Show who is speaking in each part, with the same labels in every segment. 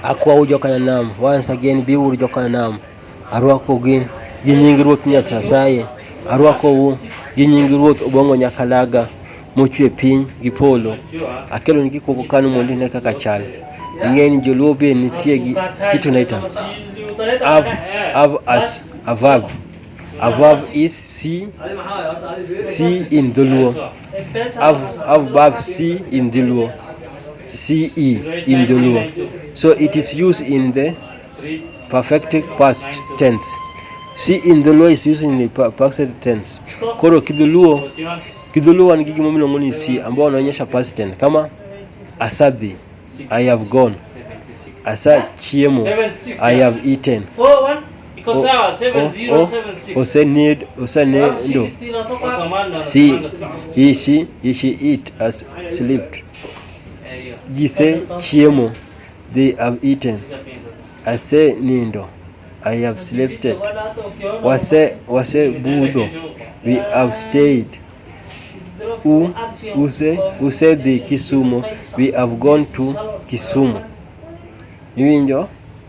Speaker 1: Akwau joka Nanam, once again biuru joka Nanam. Arwako gi gi nying Ruoth Nyasaye. Arwakou gi nying Ruoth Obongo Nyakalaga mochwe piny gi polo. Akelo ni gik moko kanu mondo ine kaka chal. Ing'eni joluo be nitie gi kitu naita. Av, av as a verb. A verb is see, see in dholuo. Av, av, bav, si, in the luo. C, E, in the luo. So it is used in the perfect past tense. C in the luo is used in the past tense. Koro kidhuluo, kidhuluo ni gigimo miluongo ni si ambao wanaonyesha past tense kama asadhi, I have gone. Asa chiemo, I have eaten. Iko oh, sawa 7076. Oh, Usenid oh, usenid ndo. Si he she he she eat as slept. Jise chiemo they have eaten. I say nindo. I have slept. Wase wase budho we have stayed. U use use the Kisumu we have gone to Kisumu. Iwinjo?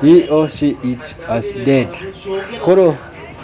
Speaker 1: He or she is as dead. Koro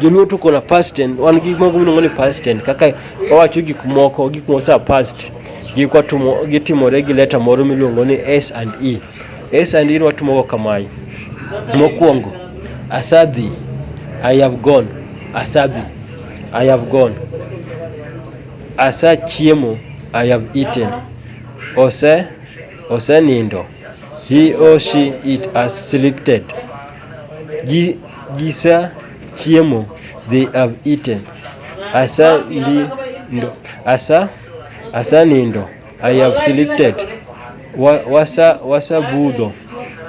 Speaker 1: joluo to kola past tense wan gik moko miluongo ni past tense kaka wawacho gik moko gik moko sa past gikwa tumo gitimore gi leta moro miluongo ni s and e s and e watumogo kamae mokwongo asadhi i have gone asadhi i have gone asa chiemo i have eaten ose osenindo He or she it has selected. Gi, gisa chiemo they have eaten. Asa ndi, ndo, asa asa nindo I have selected. Wa, wasa wasa budho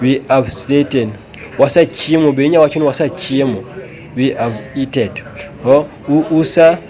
Speaker 1: we have eaten. Wasa chiemo be inya wacho ni wasa chiemo we have eaten. Ho, u, usa